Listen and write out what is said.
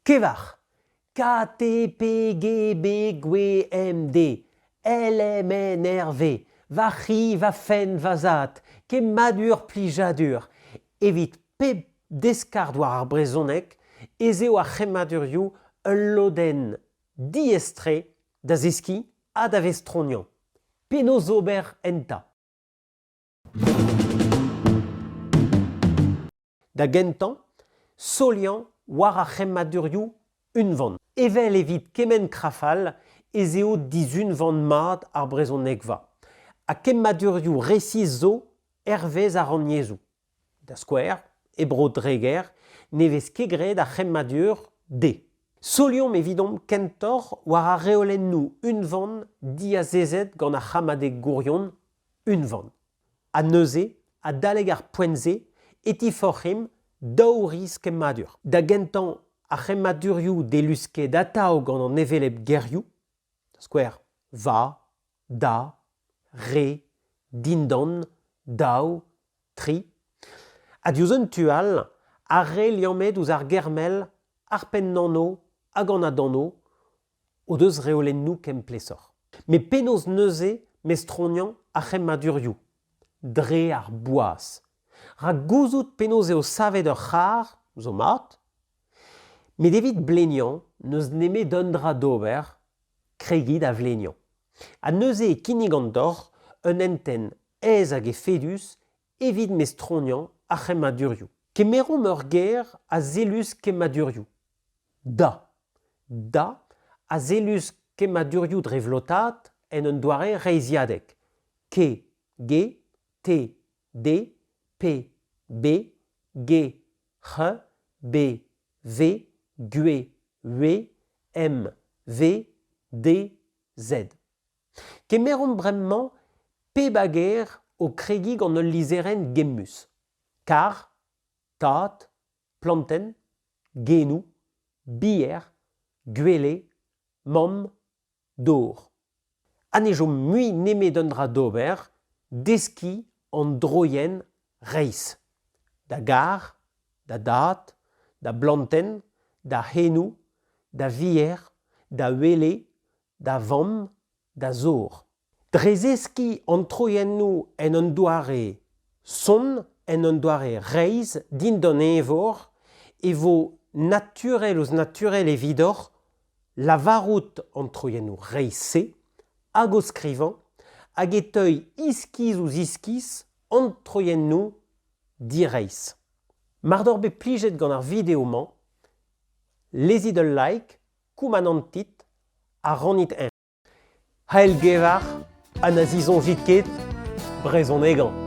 Kevar KTPGBGWMD LMNRV Va c'hi, va fenn, va zad Kemmadur Plijadur Evit pep deskard war ar brezhoneg ez eo ar c'hemmadurioù ul lodenn diaes-tre da zeskiñ ha da vestroniañ. Penaos ober enta? Da gentañ, soliañ war ar c'hemmadurioù unvan. Evel evit kement krafal ez eo dizunvan mat ar brezhonegva ha kemmadurioù resis zo hervez ar rannyezhoù. Da skouer, e Bro-Dreger ne vez ket graet ar c'hemmadur d'. Soliomp evidomp kentoc'h war ar reolennoù unvan diazezet gant ar c'hammadeg gourion unvan. Ha neuze, adalek ar poent-se, e tiforc'himp daou riz kemmadur. Da gentañ, ar c'hemmadurioù delusket atav gant an hevelep gerioù, da skouer va, da, re, dindan, daou, tri. Ha diouzh un tu all, ar re liammet ouzh ar ger-mell, ar pennanv hag an adanv, o deus reolennoù ken plesoc'h. Met penaos neuze mestroniañ ar c'hemmadurioù dre ar boaz? Rak gouzout penaos eo savet ur c'harr zo mat, met evit bleniañ n'eus nemet un dra d'ober, kregiñ da vleniañ. Ha neuze e kinnig an doc'h un hentenn aes hag efedus evit mestroniañ ar c'hemmadurioù. Kemeromp ur ger a zellus kemmadurioù. Da. Da a zellus kemmadurioù dre vlotaat en un doare reizhiadek. Ke, ge, te, de, pe, be, ge, c'h, be, ve, gue, ue, em, ve, de, zed. Kemeromp bremañ pep a gêr o kregiñ gant ul lizherenn gemmus. Karr, tad, plantenn, genoù, bier, gwele, mamm, dor. Ha ne chom mui nemet un dra d'ober, deskiñ an droienn reizh. Da garr, da dad, da blantenn, da c'henoù, da vier, da wele, da vamm, da zor. Dre zeskiñ an troiennoù en un doare sonn, en un doare reizh dindan eñvor, e vo naturel ouzh naturel evidoc'h lavarout an troiennoù reizh-se hag o skrivañ hag e teuy iskiz ouzh iskiz an troiennoù direizh. Mar doc'h bet plijet gant ar video-mañ, lezit ul like Koumanantit a rannit-eñ. C'hell-gevar ha na zisoñjit ket brezhonegañ.